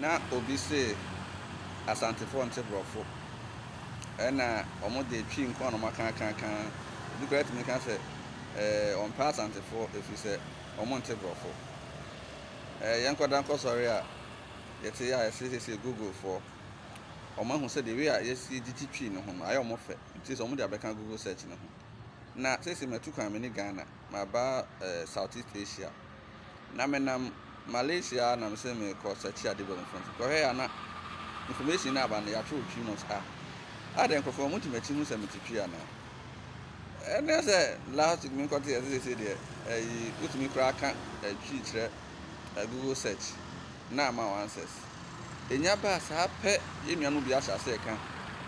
Na obi se Asantefoɔ nte Brɔfo, ɛna wɔn deɛ Twi nko ara na wɔn aka akakaa, obi koraa tumi ka sɛ ɔmpɛ Asantefoɔ ɛfiri sɛ wɔn nte Brɔfo. Ɛɛ yɛn kɔda nkɔ sɔre a yɛte a yɛse sesie Google foɔ, wɔn ahu sɛ the way a yɛsi gyigye Twi no ho no ayɛ wɔn fɛ nti sɛ wɔn de abɛka Google search no ho. Na sesie matu kwan mani Ghana, maba ɛɛ South East Asia na menam Malaysia a na mese merekɔ search ade bɔ information. Kɔhwɛɛ a na information no aba no yɛatwerɛ three months ah adɛn nkurɔfoɔ wɔte m'akyi hu sɛ mete twi anaa? Ɛne sɛ last week menkɔteɛ sɛ seesei deɛ ɛyi wotumi koraa ka twi kyerɛ Google search na ama wo answers. Ɛnya baa saa pɛ yɛn nuanom bi ahyɛ aseɛ ka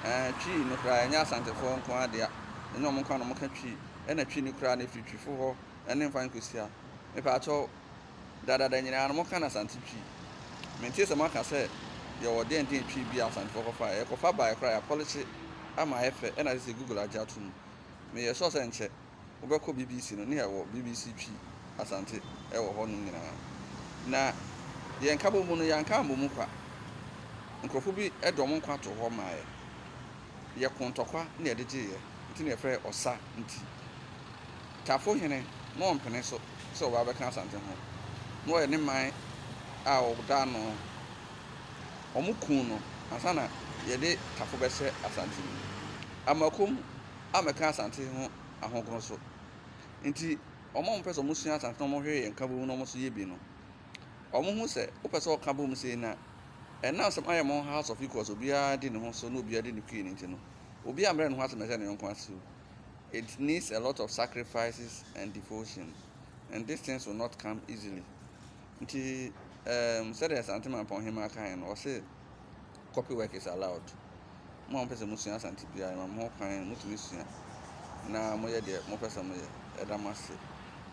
ɛɛ twi no koraa ɛnyɛ Asantefoɔ nko ara dea ɛnyɛ wɔn nko ara na wɔka twi ɛna twi no koraa no ɛfiri twifo hɔ ɛne mfa nkosia mepaakyɛw dadada nyinaa no mo ka no asante twi mentee sɛ mo aka sɛ yɛwɔ dɛn dɛn twi bi a asantefoɔ kɔfa ɛ yɛkɔfa baɛ koraa yɛapɔlikye ama ayɛ fɛ ɛna sese google agye ato mu meyɛ sure sɛ nkyɛ wo bɛkɔ BBC no ne yɛwɔ BBC twi asante ɛwɔ hɔ nom nyinaa na deɛ nkabɔ mu no yɛanka ammɔ mu kwa nkorɔfoɔ bi ɛde ɔmo nkwa too hɔ maa yɛ. Yɛ ko ntɔkwa na yɛde gyeeɛ nti na yɛfrɛ ɔsa nti. Tafo hene na ɔmpene so sɛ ɔba bɛka Asante ho na ɔyɛ ne man a ɔda ano. Ɔmo kuu no ansa na yɛde Tafo bɛhyɛ Asante mu. Amoakom ammɛka Asante ho ahogoro so nti ɔmo a ɔmo pɛ sɛ ɔmo sua Asante na ɔmo hwere yɛn nkabom na ɔmo nso yɛ bi no, Wɔhu sɛ wopɛ sɛ wɔka bom sei no a, ɛnam sɛ moayɛ mo ho house of equals, obiara di ne ho so na obiara di ne queen nti no, obiara mmrɛ ne ho ase mmɛhyɛ ne yɔnko ase o. It needs a lot of sacrifices and devotion and these things will not come easily. Nti um, sɛdeɛ Asante Mampɔn Hemaa kae no, ɔse copy work is allowed. Mo a mopɛ sɛ mosua Asante biara, yɛma mo ho kwan, motumi sua na moyɛ deɛ mopɛ sɛ moyɛ. Yɛda mo ase.